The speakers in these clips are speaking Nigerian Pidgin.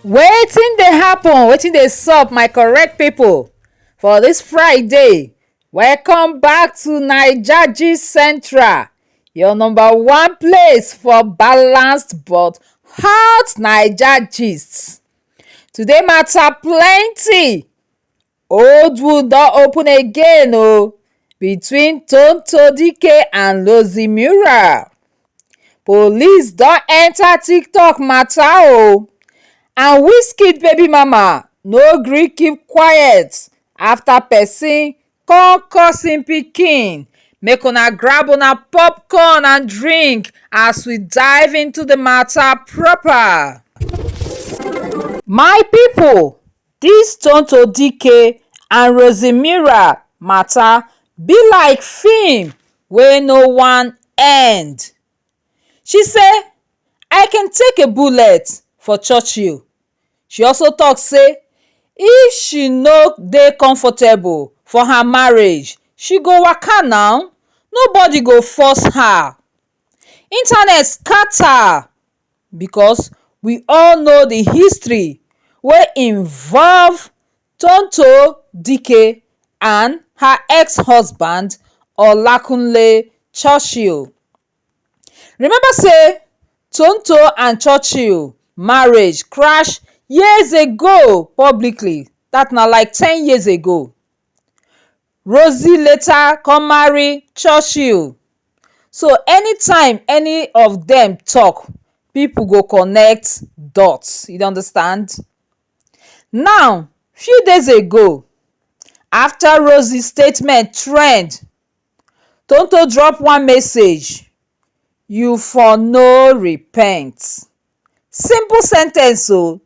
wetin dey happen wetin dey sup my correct pipo for dis friday welcome back to naija gist central your number one place for balanced but hot naija gist today mata plenty Old wound don open again o between Tonto Dike and Lozzy Mura. Police don enter TikTok matter o and Wizkid baby mama no gree keep quiet after person come curse him pikin. Make una grab una popcorn and drink as we dive into the matter proper. My people, Dis Tonto Dikeh and Rosemira matter be like film wey no wan end. She say, I can take a bullet for Churchill. She also talk say if she no dey comfortable for her marriage, she go waka now, nobody go force her. Internet scatter because we all know the history wey involve tonto dikeh and her ex-husband olakunle churchill remember say tonto and churchill marriage crash years ago publicly that na like ten years ago Rosie later come marry Churchill, so anytime any of dem talk, people go connect dots, you dey understand. Now, few days ago, after Rosie statement trend, Tonto drop one message, you for no repent. Simple sentence o,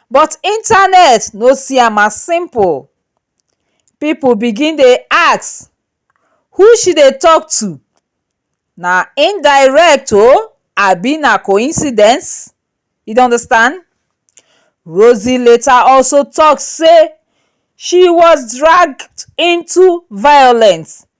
but internet no see am as simple. people begin dey ask who she dey talk to na indirect o abi na coincidence you dey understand Rosie later also talk say she was dragged into violence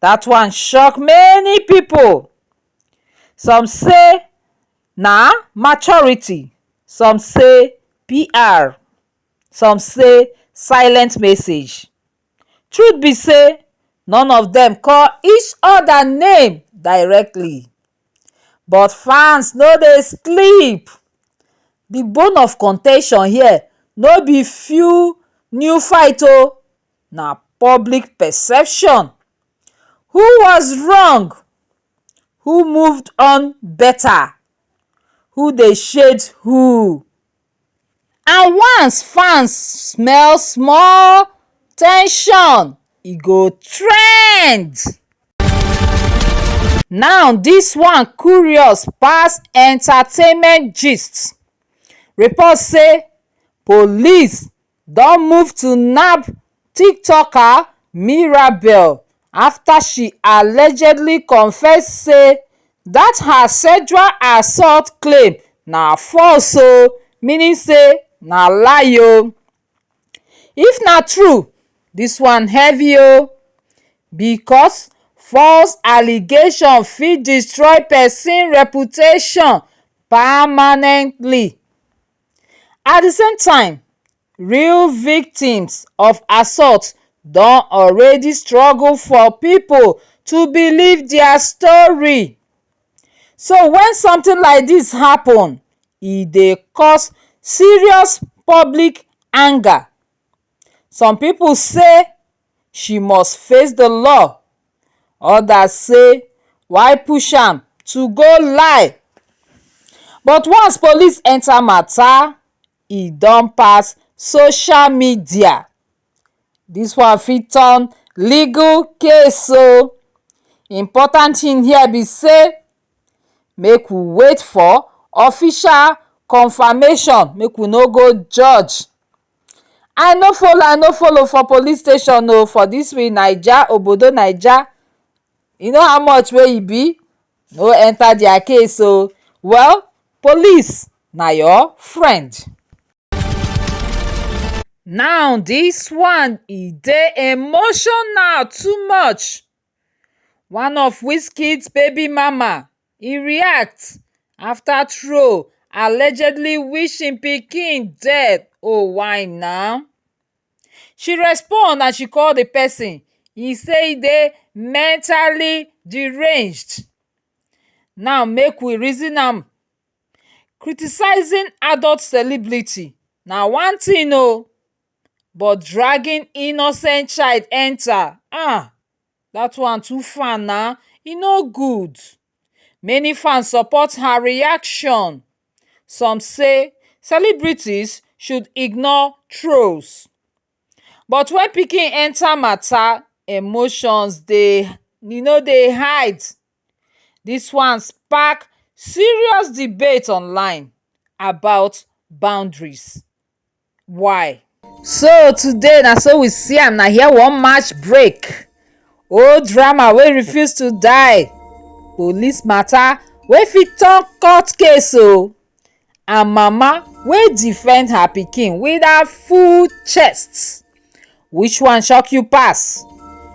dat one shock many people some say na maturity some say pr some say silent message truth be say none of dem call each other name directly but fans no dey sleep di bone of contention here no be few new fight o. na public perception who was wrong who moved on better who dey shade who and once fans smell small ten sion e go trend now this one curious pass entertainment gist report say police don move to nab tiktoker mirabel afta she allegedly confess say dat her sexual assault claim na false oh meaning say na lie oh if na true dis one heavy oh because false allegation fit destroy pesin reputation permanently. at di same time real victims of assault don already struggle for pipo to believe dia story so wen something like dis happun e dey cause serious public anger. some people say she must face the law others say why push am to go lie but once police enter matter e don pass social media this one fit turn legal case o important thing here be say make we wait for official confirmation make we no go judge I no follow I no follow for police station oh for this we naija obodo naija you know how much wey e be no enter their case oh well police na your friend. Now this one e dey emotional too much one of Wizkid's baby mama e react after troll allegedly wish im pikin dead oh why nah she respond and she call the person he say dey mentally deranged now make we reason am criticizing adult celebrity na one thing oh but dragging innocent child enter ah that one too far nah e no good many fans support her reaction some say celebrities should ignore trolls but when pikin enter matter emotions dey e no dey hide this one spark serious debate online about boundaries why? So today na so we see am na here we wan match break old drama wey refuse to die police matter wey fit turn court case o and mama wey defend her pikin with her full chest which one shock you pass?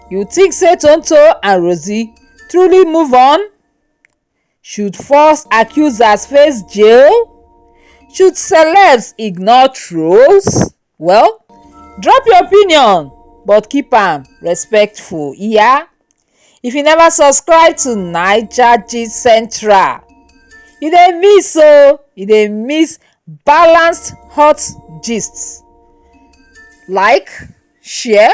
you think say Tonto and Rosie truly move on? Should false accusers face jail? Should celebs ignore trolls? Well, drop your opinion but keep am respectful yeah? If you never subscribe to Naija Gist Central, you dey miss o, oh, you dey miss balanced hot gists. Like, share